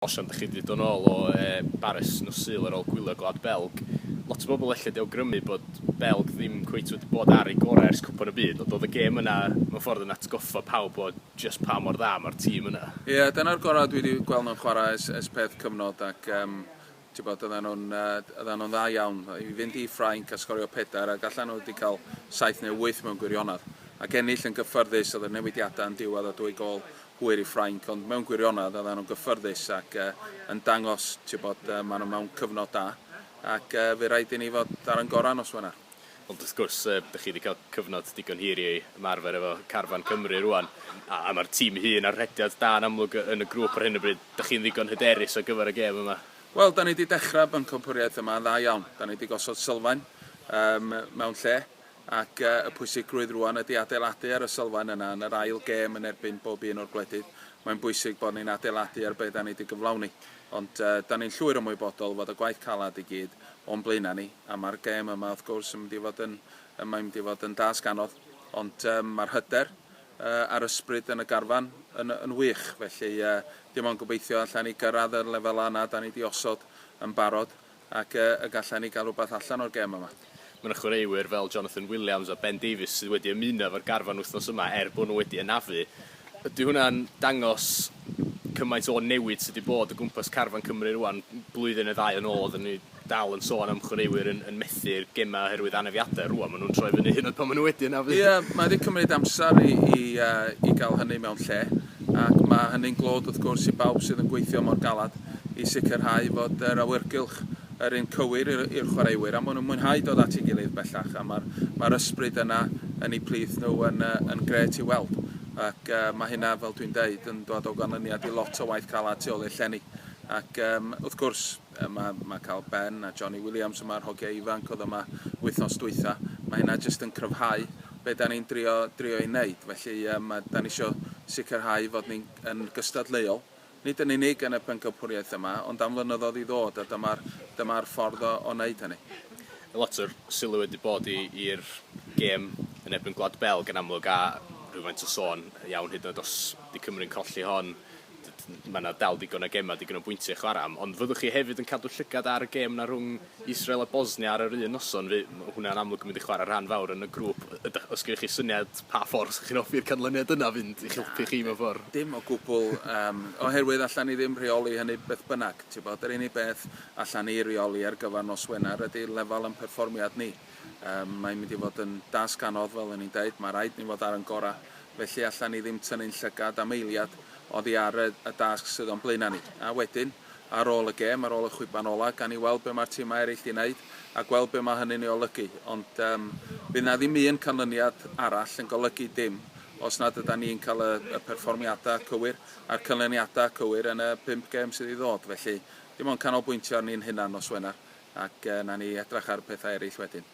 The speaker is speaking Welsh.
Os ydych chi 'di dod nôl o Baris nos Sul ar ôl gwylio Gwlad Belg, lot o bobl ella 'di awgrymu bod Belg ddim cweit wedi bod ar ei gorau ers Cwpan y Byd, ond oedd y gêm yna mewn ffordd yn atgoffa pawb o jyst pa mor dda mae'r tîm yna. Ie, dyna'r gorau dwi 'di gweld nhw'n chwarae ers peth cyfnod ac Tybod, oedden nhw'n oedden nhw'n dda iawn i fynd i Ffrainc a sgorio pedair ac allan nhw wedi cael saith neu wyth mewn gwirionedd ac ennill yn gyffyrddus, oedd y newidiadau yn diwedd a dwy gôl hwyr i Ffrainc ond mewn gwirionedd oedden nhw'n gyffyrddus ac yn dangos tybod, maen nhw mewn cyfnod da ac fe rhaid i ni fod ar yn gorau nos Wener. Ond wrth gwrs, yy, dych chi wedi cael cyfnod digon hir i ymarfer efo carfan Cymru rwan, a, a mae'r tîm hun ar rhediad da yn amlwg yn y grŵp ar hyn o bryd. Dych chi'n ddigon hyderus ar gyfer y gêm yma? Wel, da ni wedi dechrau bencampwriaeth yma yn dda iawn. Da ni wedi gosod sylfaen um, mewn lle, ac uh, y pwysigrwydd rwan ydy adeiladu ar y sylfaen yna yn yr ail gêm yn erbyn bob un o'r gwledydd. Mae'n bwysig bod ni'n adeiladu ar beth da ni wedi gyflawni. Ond uh, da ni'n llwyr ymwybodol fod y gwaith calad i gyd o'n blaenau ni, a mae'r gêm yma wrth gwrs yn mynd i fod yn, mae'n mynd i fod yn dasg anodd, ond um, mae'r hyder uh, a'r ysbryd yn y garfan yn, yn wych, felly uh, dim ond gobeithio allan ni gyrraedd y lefelau yna da ni wedi osod yn barod, ac uh, y gallan ni gael rhywbeth allan o'r gêm yma. Mae 'na chwaraewyr fel Jonathan Williams a Ben Davies sydd wedi ymuno efo'r garfan wythnos yma er bod nhw wedi anafu. Ydy hwnna'n dangos cymaint o newid sydd wedi bod o gwmpas carfan Cymru rŵan? Blwyddyn neu ddau yn ôl oedden ni dal yn sôn am chwaraewyr yn yn methu'r gemau oherwydd anafiadau. Rŵan maen nhw'n troi fyny hyd yn oed pan maen nhw wedi anafu. Ie, mae wedi cymryd amser i i yy i gael hynny mewn lle ac mae hynny'n glod wrth gwrs i bawb sydd yn gweithio mor galed i sicrhau fod yr awyrgylch yr un cywir i'r chwaraewyr a maen nhw'n mwynhau dod at ei gilydd bellach a mae'r mae'r ysbryd yna yn eu plith nhw yn yn gret i'w weld ac mae hynna fel dwi'n deud yn dod o ganlyniad i lot o waith calad tu ôl i'r llenni ac um, wrth gwrs mae, mae cael Ben a Johnny Williams yma'r hogiau ifanc oedd yma wythnos dwytha mae hynna jyst yn cryfhau be da ni'n drio, drio ei wneud felly um, da ni eisiau sicrhau fod ni'n gystadleuol Nid yn unig yn y pencampwriaeth yma, ond am flynyddoedd i ddod, a dyma'r dyma'r ffordd o o wneud hynny. Lot o'r sylw wedi bod i i'r gêm yn erbyn Gwlad Belg yn amlwg, a rhywfaint o sôn iawn hyd yn oed os 'di Cymru'n colli hon, d- d- ma' 'na dal digon o gemau, digon o bwyntiau i chwarae am. Ond fyddwch chi hefyd yn cadw llygad ar y gêm 'na rhwng Israel a Bosnia ar yr un noson, fe- ma' hwnna'n amlwg yn mynd i chware rhan fawr yn y grŵp. Y- ydach os gennych chi syniad pa ffor fysach chi'n hoffi'r canlyniad yna fynd i'ch helpu chi mewn ffor? Dim o gwbwl yym oherwydd allan ni ddim rheoli hynny beth bynnag t'bod yr unig beth allan ni reoli ar gyfar nos Wener ydi lefel yn perfformiad ni. Yym mae'n mynd i fod yn dasg anodd fel o'n ni'n deud ma' raid ni fod ar yn gora felly allan ni ddim tynnu'n llygad am eiliad oddi ar y y dasg sydd o'n blaena ni a wedyn ar ôl y gêm, ar ôl y chwiban ola, gan i weld be mae'r timau eraill 'di wneud a gweld be mae hynny'n ei olygu. Ond yym, fydd 'na ddim un canlyniad arall yn golygu dim os nad ydan ni'n cael y y perfformiadau cywir a'r canlyniadau cywir yn y pump gêm sydd i ddod. Felly, dim ond canolbwyntio arni'n hunan nos Wener ac yy 'na ni edrach ar y pethau eraill wedyn.